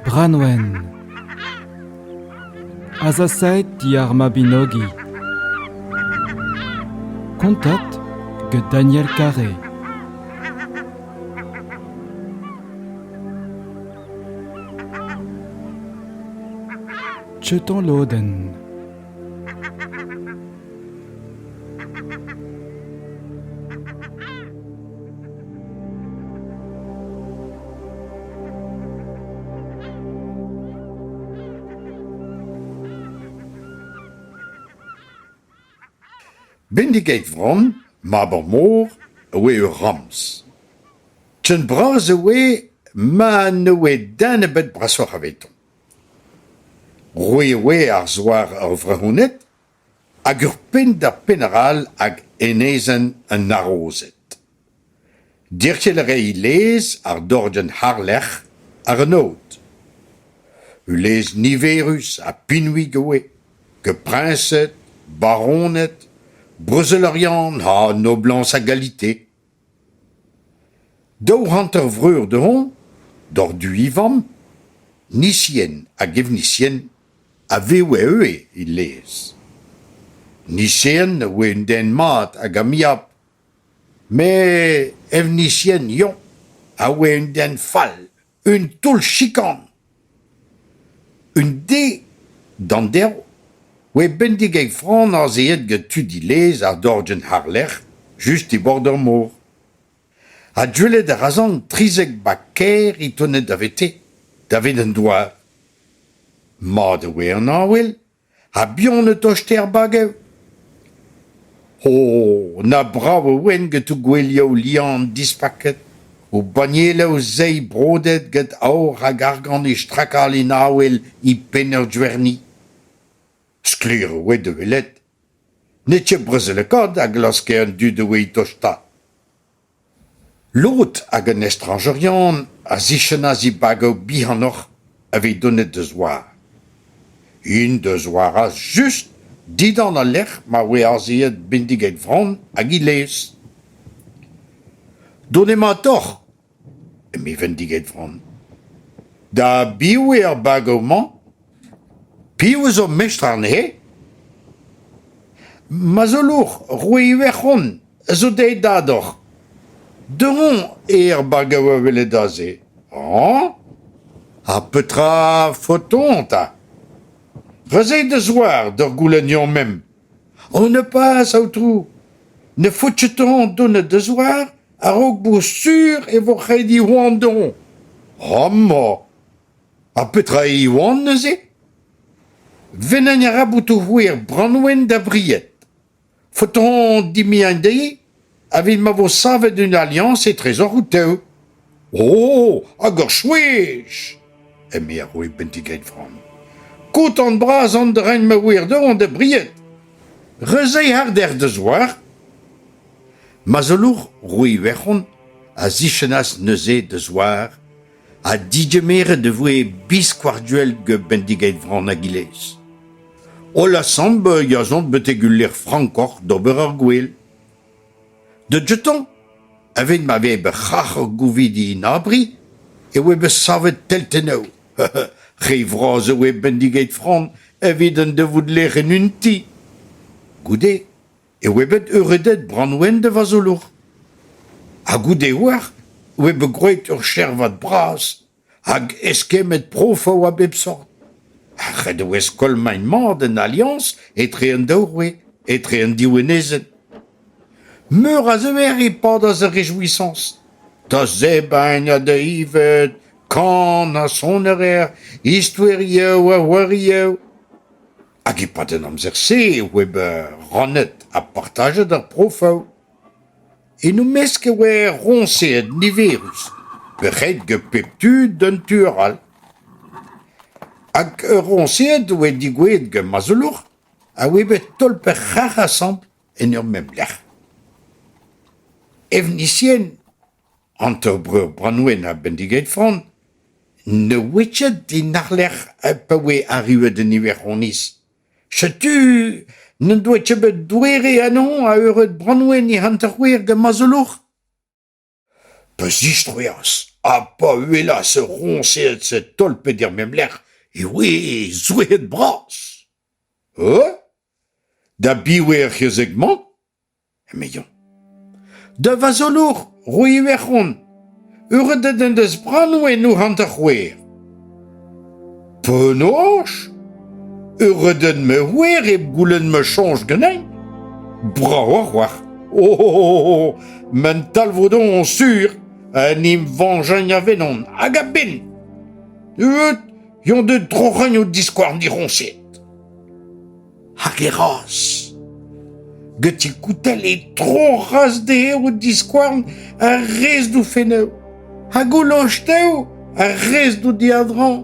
Branwen Azasaet diar Mabinogi Kontat get Daniel Carré Chetan lodenn Bendigeit Vran, mab ar mor, a oe ur ramz. Ken bras e oe ma ne oe den ebet brasoc'h avetoñ. Roet e oa ar zouar ur vrezhoneg hag ur penn-da-penn arall hag enezenn an harozed. Derc'hel a rae lez àr dorgenn harlec'h ar an aod. Ul lez niverus ha pinvik e oa, gant priñsed, baroned, brezel Oriant ha noblañs a galite. Daou hanter-vreur dezhoñ, Dordu Ifan, Nisien hag Evnisien, a vev e-eue e lez. Nisien a oa un den mat hag amiabl, met Evnisien yoñ a oa un den fall. Un taol-chikan. Un de d'an derv oa bendik e fronas aet gant tu dilez ar dorjenn àr-lerc'h, just e bord ar mor. Ha gwelet a razan trizek bag kaer é tonet davete, davet an douar. Mat e oa an avel, Ha buan e toste ar bagev ? O ! na brav e oent get o gouelioù liamm dispaket, o bannieloù seiz brodet get aour hag argant é strakal en avel e penn ur gwerni. Sklaer e oa da welet. Ne't ket brezelekaat a glaske an dud a oe tostañ. Lod hag an estrañjerien a zichennas dibagoù bihanoc'h evit donet da zouar. Int da zouaras just dindan al lec'h ma voe azeet bindiged vran hag he lez. Dont emañ deoc'h, eme Vendiged Vran. Da biv eo ar bagoù-mañ ? Piv a zo mestr anezhe ? Ma zolour, roue Iwerzhon, a zo dezhe dador. Deomp eo ar bag a oa welet aze hañ ! Ha petra faotoñ 'ta ? Razeit da zouar d'ur goulenn-mañ memp. Ho neupaz, Aotrou, ne faotchetomp donat da zouar a-raok bout sur e vo reiñ he oan deomp. Amañ ! Ha petra eo Iwan neuze ? Vennañ a ra botoù-c'hwi er Branwen da bried. Faotron dimiañ dezhi evit ma vo savet un aliañs etrezoc'h out-tev. O, hag ur chwech ! eme ar roue Bentigreidfran. Kotan-bras an drein ma ouer dezhañ da bried. Reuzei harder da zouar. Mazelour roue Iwerzhon a zichennas neuze da zouar ha digemeret e voe biskoazh-duell gant bendiged Vran Agilez. Holl asambl a chom betek ul lec'h frankoc'h d'ober ar gwel. De dioutañ, evit ma vez bet c'hac'h gouvidi en abri, e oa bet savet teltennoù. Re vras e oa bendiged Fran evit un devoud lec'h en un ti. Goude e oe bet euredet Branwen da vazolour. Ha goude oac'h e oe bet gwraet eur chervad bras hag eskemmet prof a oa bep sort. Ha ret e oe skoilmañ mat an Alliañs etre an daou roue, etre an div enezed. Meur a zever e padas ar rejouissañs. Da zebrañ ha da ivez kan ha sonarer, istoeriou ha c'hoariou. Hag e-pad an amzer-se e oe bet rannet ha partajet ar profoù. En o mesk e oe roñseet niverus, pec'hed get pep tu d'un tu arall. Hag ur roñseed e oe digoueet get ma zoulour a oe bet tolpet-c'harr asambl en ur mem lec'h. Evnisien Hanter-breur Branwen ha bendiged Fran ne oe ket en arlerc'h pa oe arruet en Iwerzoniz. Setu n'en doa ket bet doere anezhañ a eured Branwen e hanter-c'hwec'h gant Mazolour. Pa zistroas ha pa uhelas ur roñsed tolpet er mem lec'h e oe zoueet-bras. E? Da biv eo ar c'hezeg-mañ? emezañ. Da vazolour, roy Iwerzhon, euredet en deus Brannoù en ou hanter-c'hwec'h. Penaos? Euredet ma c'hwec'h hep goulenn ma soñj ganin? Brav a-walc'h. O, oh, oh, oh, m'en talvoudomp sur en em veñjañ a venon hag a-benn. Eut, yon de troc'hañ o diskouarn diroñset. Hag e raz. Get e koutell e tro raz dezhañ o diskouarn ar rez d'o fenneù ha goullo tev ar rez d'o diadrañ.